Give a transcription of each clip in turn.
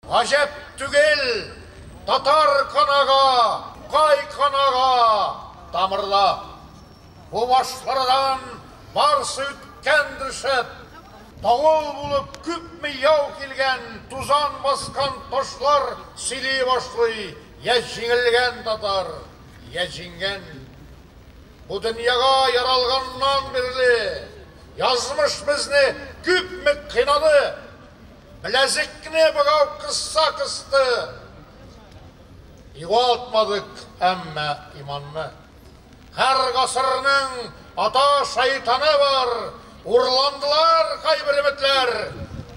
Гаҗәп түгел, татар канага, кай канага тамырла. Бу башкарадан барсы үткәндер шәп. Давыл булып күпме яу килгән, тузан баскан ташлар сөйли башлый, йә җиңелгән татар, йә җиңгән. Бу дөньяга яралганнан бирле язмыш безне күпме кыйнады. Беләзекне богау кысса кысты, югалтмадык әмма иманны. Һәр гасырның ата шайтаны бар, урландылар кайбер өметләр.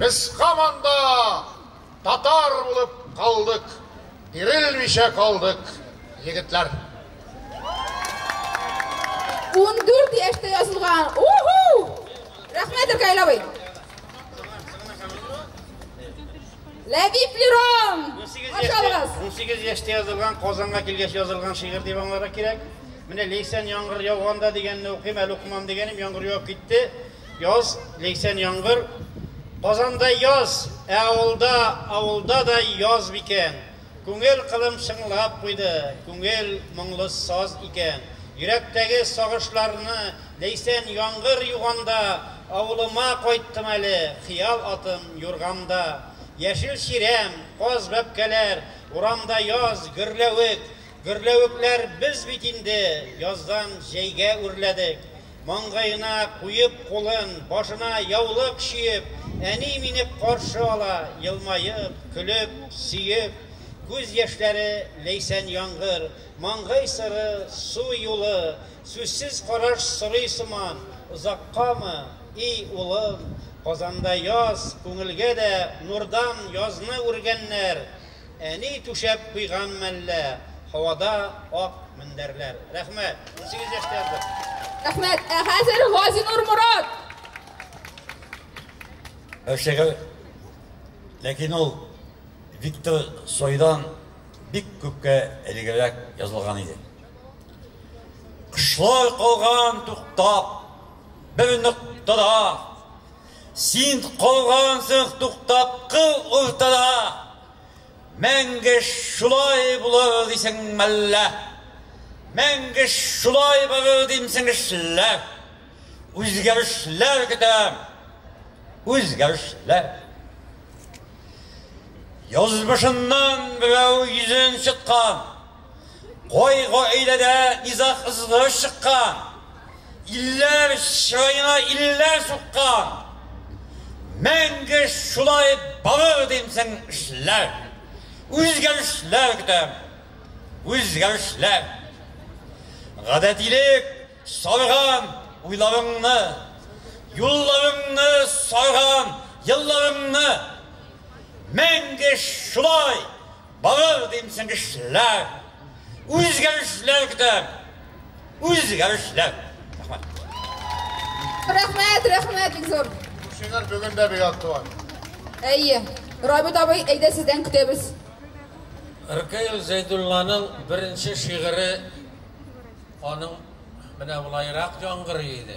Без һаман да татар булып калдык, бирелмичә калдык, егетләр. Ундүрт яшьтә язылган. Уху! Рәхмәт, Иркәй абый. Ләбиб Лерон! Ашалгыз! 18 яшьтә язылган, Казанга килгәч язылган шигырь дип аңларга кирәк. Менә Лейсән яңгыр яуганда дигәнне укыйм, әле укымам дигәнем, яңгыр яуып китте. Яз, Лейсән яңгыр. Казанда яз, ә авылда, авылда да яз микән? Күңел кылым чыңлап куйды, Күңел моңлы саз икән. Йөрәктәге сагышларны Ләйсән яңгыр юганда, Авылыма кайттым әле, Хыял атым юрганда. Яшел чирәм, каз бәбкәләр, Урамда яз, гөрләвек. Гөрләвекләр без бит инде, Яздан җәйгә үрләдек. Маңгаена куеп кулын, башына яулык чиеп, әни мине каршы ала, елмаеп, көлеп, сөеп. Күз яшьләре, ләйсән яңгыр, маңгай сыры, су юлы, сүзсез караш сорый сыман, Озаккамы, и улым? Казанда яз, күңелгә дә нурдан язны үргәннәр, Әни түшәп куйган мәллә, һавада ак мендәрләр. Рәхмәт! Унсигез яшьтә яздык. Рәхмәт! Ә хәзер Газинур Морат! Шигырь, ләкин ул Виктор Цойдан бик күпкә элегрәк язылган иде. Кошлар калган туктап бер ноктада. Син калгансың туктап кыл уртада, Мәңге шулай булыр дисең мәллә? Мәңге шулай барыр димсең эшләр? Үзгәрешләр көтәм, үзгәрешләр. Язмышыннан берәү йөзен чыткан. Кай гаиләдә низаг ызгырыш чыккан, илләр чыраена илләр суккан, мәңге шулай барыр димсең эшләр. Үзгәрешләр көтәм, үзгәрешләр. Гадәтилек сарган уйларыңны, юлларыңны сарган елларыңны, мәңге шулай Булыр дим чыгышлар, үзгәрешләр көтәм, үзгәрешләр. Рәхмәт. Рәхмәт, рәхмәт, бик зур. Шигырь бүген дә бик актуаль. Әйе. Рабит абый, әйдә сездән көтәбез. Ркаил Зәйдулланың беренче шигыре аның менә болайрак яңгырый иде.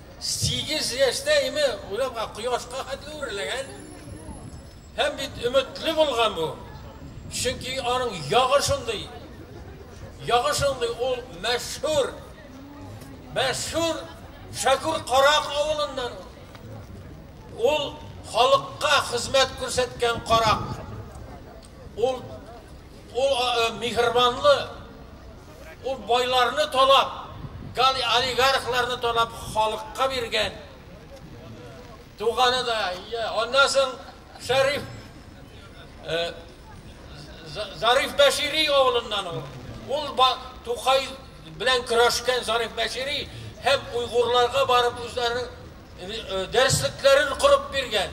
Сигез яшьтә име урамга кояшка хәтле үрләгән һәм бит өметле булган бу. Чөнки аның ягы шундый. Ягы шундый ул мәшһүр. Мәшһүр Шәкүр Карак авылыннан. Ул халыкка хезмәт күрсәткән карак. Ул ул миһербанлы Ул байларны талап, олигархларны талап халыкка биргән. Туганы да, аннан соң Шәриф Зариф Бәшири авылыннан ул. Ул Тукай белән көрәшкән Зариф Бәшири һәм уйгурларга барып үзләренең дәреслекләрен корып биргән.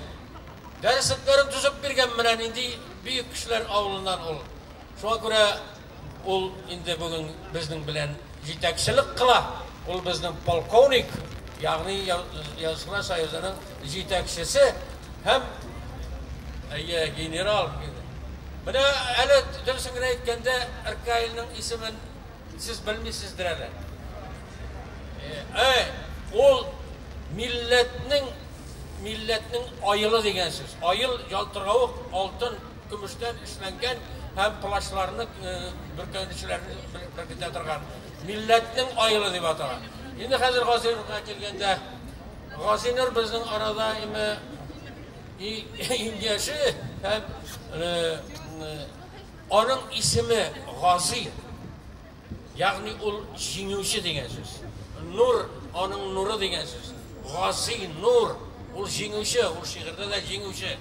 Дәреслекләрен төзеп биргән менә нинди бөек кешеләр авылыннан ул. Шуңа күрә Ул инде бүген безнең белән җитәкчелек кыла. Ул безнең полковник, ягъни Язучылар союзының җитәкчесе һәм әйе, генерал. Менә әле дөресен генә әйткәндә, РКИлның исемен сез белмисездер әле. Әй, ул милләтнең милләтнең аелы дигән сүз. Аел ялтыравык, алтын. Көмештән эшләнгән һәм колачларны бөркәнүчеләрне беркетә торган милләтнең аелы дип атала. Инде хәзер Газинурга килгәндә, Газинур безнең арада име иң яше һәм аның исеме Гази. Ягъни ул җиңүче дигән сүз. Нур, аның нуры дигән сүз. Гази, нур, ул җиңүче, ул шигырьдә дә җиңүче.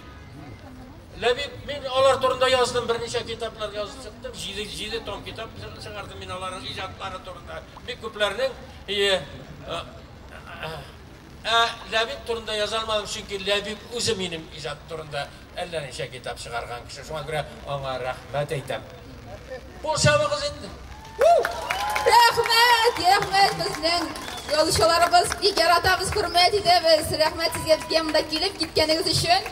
Ләбиб, мин алар турында яздым, берничә китаплар язып чыктым, җиде, җиде том китап чыгардым мин аларның иҗатлары турында. Бик күпләрнең э, э, э, Ә Ләбиб турында яза алмадым, чөнки Ләбиб үзе минем иҗат турында Әллә ничә китап чыгарган кеше, шуңа күрә аңа рәхмәт әйтәм. Кул чабыгыз инде. Рәхмәт, рәхмәт безнең язучыларыбыз бик яратабыз, хөрмәт итәбез. Рәхмәт сезгә безгә монда килеп киткәнегез өчен.